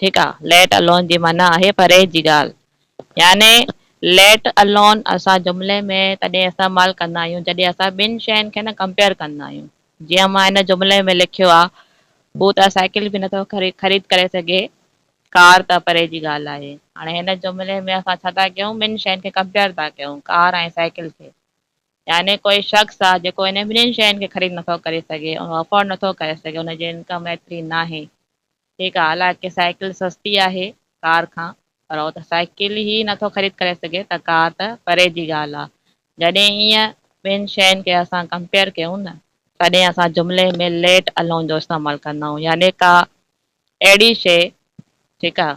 ٺيڪ آ let alone جي معنيٰ آهي پرهيز جي ڳالهه يعني ليٽ الون اسان جملي ۾ تڏهن استعمال ڪندا آهيون جڏهن اسان ٻن شين کي نه ڪمپيئر ڪندا آهيون جيئن مان هن جملي ۾ لکيو آ هو ته سائيڪل به نٿو خريد ڪري سگهي ڪار ته پري جي ڳالهه آهي هاڻي هن جملي ۾ اسان ڇا ٿا ڪيون ٻن شين کي ڪمپيئر ٿا ڪيون ڪار ۽ سائيڪل کي يعني ڪوئي شخص آ جيڪو انهن ٻنهين شين کي خريد نٿو ڪري سگهي اهو افورڊ نٿو ڪري سگهي ان جي انڪم ايتري ناهي هي ڳالهه آهي ڪي سائيڪل سستي آهي ڪار کان پر هو ته سائيڪل ئي نٿو خريد ڪري سگهي ته ڪار ته پري جي ڳالهه آهي جڏهن ايئن ٻن شين کي اسان ڪمپيئر ڪيون نه تڏهن اسان جملي ۾ Let Alone جو استعمال ڪندا آهيون يعني ڪا اهڙي شي ٺيڪ آهي.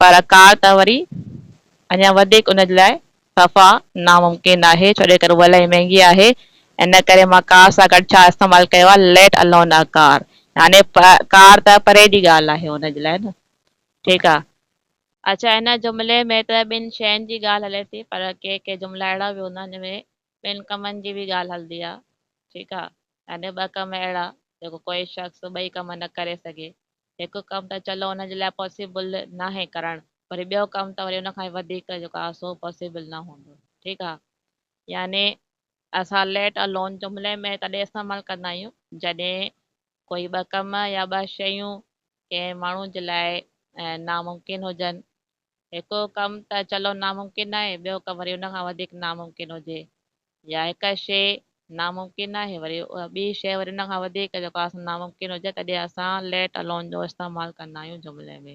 پر ڪار ته وري اڃا وڌيڪ ان جي لاء صفا ناممڪن آهي ڇو جو هوء الاهي مهنگي آهي ان ڪري مان ڪار سان گڏ ڇا استعمال ڪيو آهي ليٽ الون آ ڪار يعني ڪار ته پري جي ڳالهه آهي ان جي لاء نه ٺيڪ آ. اڇا هن جملي ۾ ته ٻن شين جي ڳالهه هلي ٿي پر ڪي ڪي جملا اهڙا به هوندا جن ۾ ٻن ڪمن جي به ڳالهه هلندي آ ٺيڪ آ يعني ٻه ڪم اهڙا جيڪو ڪوئي شخص ٻئي ڪم نه ڪري سگهي هڪ ڪم ته چلو ان جي لاء پاسيبل ناهي ڪرڻ وري ٻيو ڪم ته وري ان کان وڌيڪ جيڪو آهي سو پاسيبل نه هوندو ٺيڪ آهي يعني اسان ليٽ الون جملي ۾ تڏهن استعمال ڪندا آهيون جڏهن ڪوئي ٻه ڪم يا ٻه شيون ڪنهن ماڻهو جي لاء ناممڪن هجن هڪ ڪم ته چلو ناممڪن آهي، ٻيو ڪم وري ان کان وڌيڪ ناممڪن هجي يا هڪ شيء ناممڪن آهي وري اها ٻي شيء وري ان کان وڌيڪ جيڪا ناممڪن هجي تڏهن اسان Let Alone جو استعمال ڪندا آهيون جملي ۾.